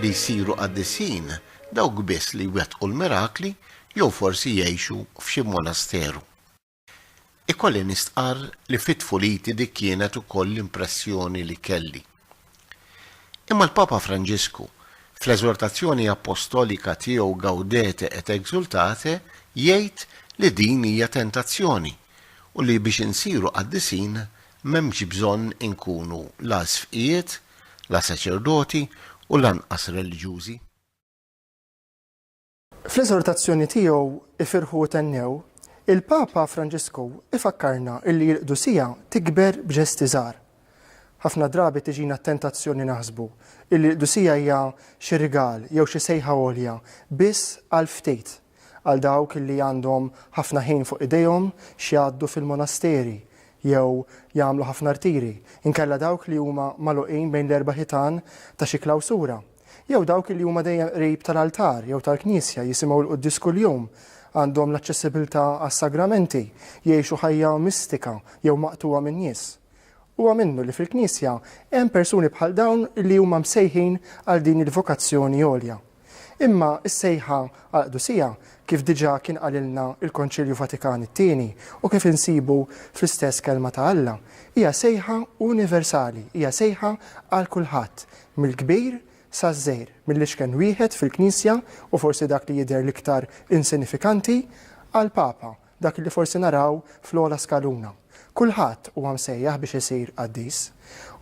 li jsiru qaddisin dawk biss li jwettqu l-mirakli jew forsi jgħixu f'xi monasteru. Ikolli nistqarr li fi tfuliti dik kienet ukoll l-impressjoni li kelli. Imma l-Papa Franġisku, fl-eżortazzjoni appostolika tiegħu Gaudete et exultate, jgħid li din hija tentazzjoni u li biex insiru qaddisin M'hemmx bżonn inkunu la sfqijiet, la saċerdoti u lanqas reliġjużi. Fl-eżortazzjoni tiegħu Ifirħu u Thennew, il-Papa Franġisku jfakkarna illi l-qdusija tikber b'ġesti żgħar. Ħafna drabi tiġina t-tentazzjoni naħsbu illi l-qdusija hija xi rigal jew xi sejħa għolja biss għal ftit. Għal dawk li għandhom ħafna ħin fuq idejhom x'jgħaddu fil-monasteri jew jagħmlu ħafna rtiri, inkella dawk li huma magħluqin bejn l-erba' ħitan ta' xi klawsura, jew dawk li huma dejjem qrib tal-altar jew tal-knisja, jisimgħu l-quddies kuljum, għandhom l-aċċessibbiltà għas-sagramenti, jgħixu ħajja mistika jew maqtugħa min-nies. Huwa minnu li fil-Knisja hemm persuni bħal dawn li huma msejħin għal din il-vokazzjoni għolja. Imma s-sejħa għal qdusija, kif diġà kien qalilna l-Konċilju Vatikan it-Tieni u kif insibu fl-istess Kelma ta' Alla, hija sejħa universali, hija sejħa għal kulħadd, mill-kbir saż-żgħir, mill-iċken wieħed fil-Knisja u forsi dak li jidher l-iktar insinifikanti, għall-Papa, Dak li forsi naraw fl-ogħla skaluna. Kulħadd huwa msejjaħ biex isir qaddis.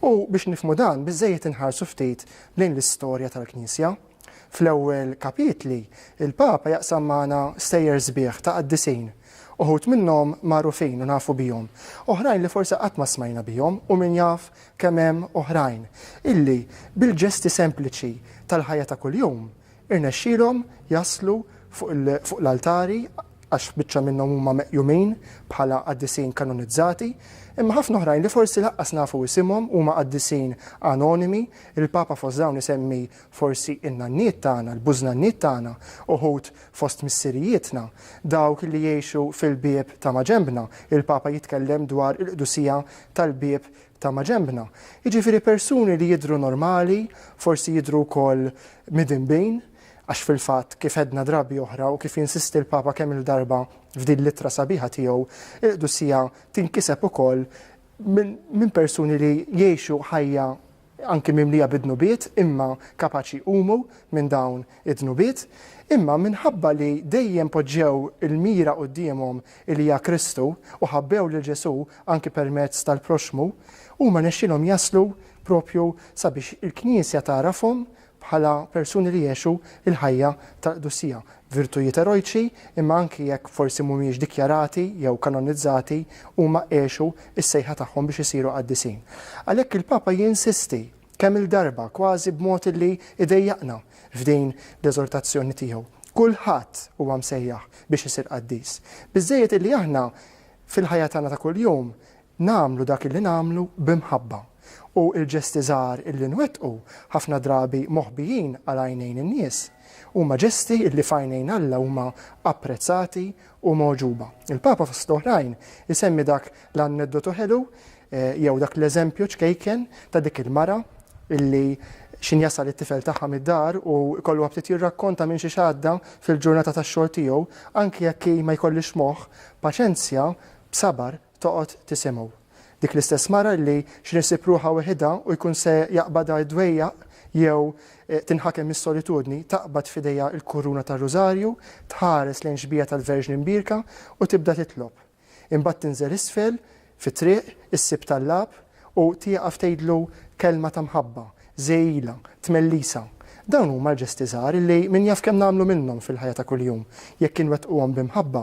U biex nifhmu dan biżżejjed inħarsu ftit lejn l-istorja tal-Knisja. Fl-ewwel kapitli, il-Papa jaqsam magħna stejjer sbieħ ta' qaddisin. Uħud minnhom magħrufin u nafu bihom. Oħrajn li forsi qatt ma smajna bihom u min jaf kemm hemm oħrajn illi bil-ġesti sempliċi tal-ħajja ta' kuljum Irnexxielhom jaslu fuq l-altari għax biċċa minnhom huma meqjumin bħala qaddisin kanonizzati, imma ħafna oħrajn li forsi laqqas nafu isimhom huma qaddisin anonimi, il-Papa fost dawn isemmi forsi in-nanniet tagħna, l-bużnanniet tagħna, uħud fost missirijietna, dawk li jgħixu fil-bieb ta' maġenbna, il-Papa jitkellem dwar il-qdusija tal-bieb ta' maġenbna, jiġifieri persuni li jidhru normali, forsi jidhru wkoll midinbin, għax fil-fatt, kif għedna drabi oħra u kif jinsisti l-Papa kemm-il darba f'din l-ittra sabiħa tiegħu, il-qdusija tinkiseb ukoll minn persuni li jgħixu ħajja anki mimlija bid-dnubiet, imma kapaċi jqumu minn dawn id-dnubiet. Imma minħabba li dejjem poġġew il-mira quddiemhom li hija Kristu, u ħabbew lil Ġesù anki permezz tal-proxxmu, huma nexxielhom jaslu proprju sabiex il-Knisja tagħrafhom bħala persuni li jgħixu l-ħajja tal-qdusija, virtujiet erojċi, imma anki jekk forsi mhumiex dikjarati jew kanonizzati, huma għexu s-sejħa tagħhom biex isiru qaddisin. Għalhekk il-Papa jinsisti kemm-il darba, kważi b'mod li jdejjaqna f'din l-eżortazzjoni tiegħu. Kulħadd huwa msejjaħ biex isir qaddis. Biżżejjed li aħna fil-ħajja tagħna ta' kuljum nagħmlu dak li nagħmlu bi mħabba. U l-ġesti żgħar li nwettqu, ħafna drabi moħbijin għal għajnejn in-nies, huma ġesti li f'għajnejn Alla huma apprezzati u mogħġuba. Il-Papa fost l-oħrajn isemmi dak l-anneddotu ħelu jew dak l-eżempju ċkejken ta' dik il-mara illi xin jasal it-tifel tagħha mid-dar u jkollu ftit jirrakkonta minn xiex għadda fil-ġurnata tax-xogħol tiegħu, anki jekk hi ma jkollhiex moħħ, paċenzja, b'sabar, toqgħod tisimgħu. Dik l-istess mara illi x'in issib ruħha weħidha u jkun se jaqbadha d-dwejjaq jew tinħakem mis-solitudni, taqbad f'idejha l-kuruna tar-Rużarju, tħares lejn xbieha tal-Verġni Mbierka u tibda titlob. Imbagħad tinżel isfel fit-triq, issib tallab u tieqaf tgħidlu kelma ta' mħabba, żegħilha, tmellisa. Dawn huma l-ġesti żgħar illi min jaf kemm nagħmlu minnhom fil-ħajja ta' kuljum. Jekk inwettquhom bi mħabba,